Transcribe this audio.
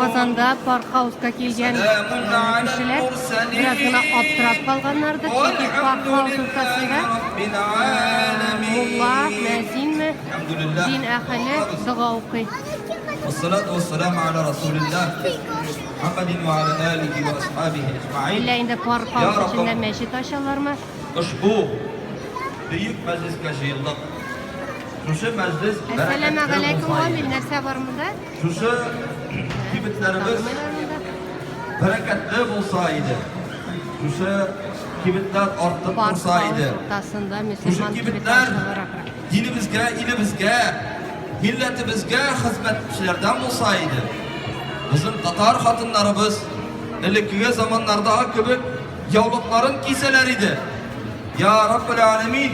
Казанда паркхауска килгән кешеләр бераз гына аптырап калганнардыр, чөнки паркхаус уртасында мулла, мәзинме, дин әһеле дога укый. Әллә инде паркхаус эчендә мәчет ачалармы? Ошбу бөек мәҗлескә җыелдык. Шушы мәҗлес бәрәкәтле булса иде. Нәрсә бар монда? Шушы кибетләребез бәрәкәтле булса иде. Шушы кибетләр артып торса иде. Шушы кибетләр динебезгә, илебезгә, милләтебезгә хезмәтчеләрдән булса иде. Безнең татар хатыннарыбыз элеккеге заманнардагы кебек яулыкларын кисәләр иде. Я Раббул Аләмин,